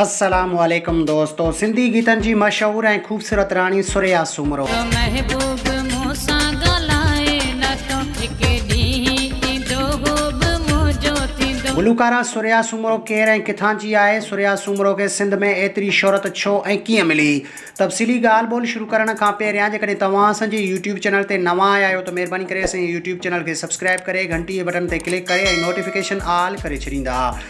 السلام عليڪم دوستو سنڌي گيتن جي مشهور ۽ خوبصورت راڻي ثريا سومرو. جو محبوب مون سان ڳالهائي نٿو هڪ ڏينهن ايندو هو به منهنجو ٿيندو. گلوڪارا ثريا سومرو ڪير ۽ ڪٿان جي آهي؟ ثريا سومرو کي سنڌ ۾ ايتري شهرت ڇو ۽ ڪيئن ملي؟ تفصيلي ڳالهه ٻولهه شروع ڪرڻ کان پهريان جيڪڏهن توهان اسان جي يوٽيوب چينل تي نوان آيا آهيو ته مهرباني ڪري اسان جي يوٽيوب چينل کي سبسڪرائب ڪري گهنٽي جي بٽن تي ڪلڪ ڪري ۽ نوٽيفڪيشن آل ڪري ڇڏيندا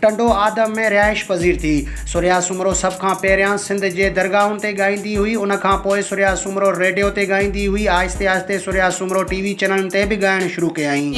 ٽنڊو آدم ۾ رهائش پذير ٿي. سريا سومرو سڀ کان پهريان سنڌ جي درگاهن تي ڳائيندي هئي، ان کان پوء سريا سومرو ريڊيو تي ڳائيندي هئي، آهستي آهستي سريا سومرو ٽي وي چئنلن تي به ڳائڻ شروع ڪيائين.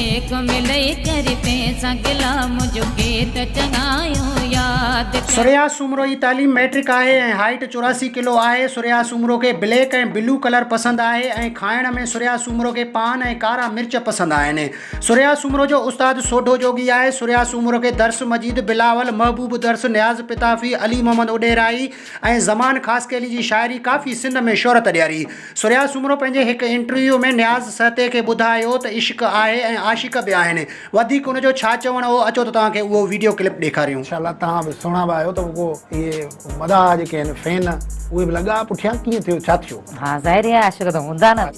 سريا سومرو جي تعليم مئٽرڪ آهي ۽ هائيٽ چوراسي ڪلو آهي. سريا سومرو کي بليڪ ۽ بلو ڪلر پسند آهي ۽ کائڻ ۾ سريا سومرو کي پان ۽ ڪارا مرچ پسند آهن. سريا سومرو جو استاد سوڍو جوڳي آهي. سريا سومرو کي درس مجيد، بلاول، محبوب درس، نياز پتافي، علي محمد اوڏيرائي ۽ زمان خاصخيلي جي شاعري ڪافي سنڌ ۾ شهرت ڏياري. سريا سومرو پنهنجي هڪ انٽرويو ۾ نياز سهتي کي ٻڌايو ته عشق آهي ۽ عاشق به آهن. وڌيڪ ان جو ڇا چوڻ هو اچو ته توهان کي اهو وڊيو ڪلپ ڏيکاريون. ماشاء الله توهان به سهڻا به آهيو ته اهو اهي مداح جيڪي آهن فين اهي به لڳا پٺيان ڪيئن ٿيو ڇا ٿيو. ها ظاهر هي عاشق ته هوندا نه.